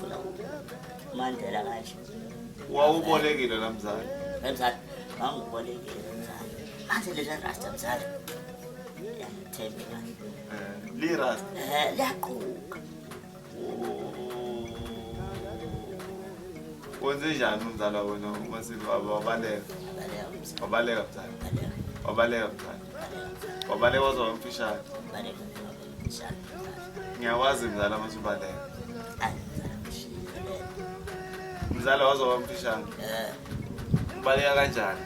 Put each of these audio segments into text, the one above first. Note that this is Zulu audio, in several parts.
Funa Mandela kanje. Wawubolekile la mzali. Mzali, ngangibolekile mzali. Manje lezi rasta mzali. Yangithembe manje. Eh, li rasta. Eh, liyaquka. Wenze njani umzala wena uma sibaba wabaleka? Wabaleka mzali. Wabaleka mzali. Wabaleka wazwa umfishane. Wabaleka. ngiyawazi mzala masubaleka mzala waze wamfishane ubaleka kanjani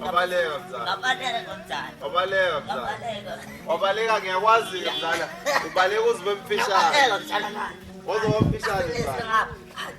wabaleka mzala wabaleka mzala wabaleka ngiyakwazi mzala ubaleka uzibe mfishane waze wamfishane mzala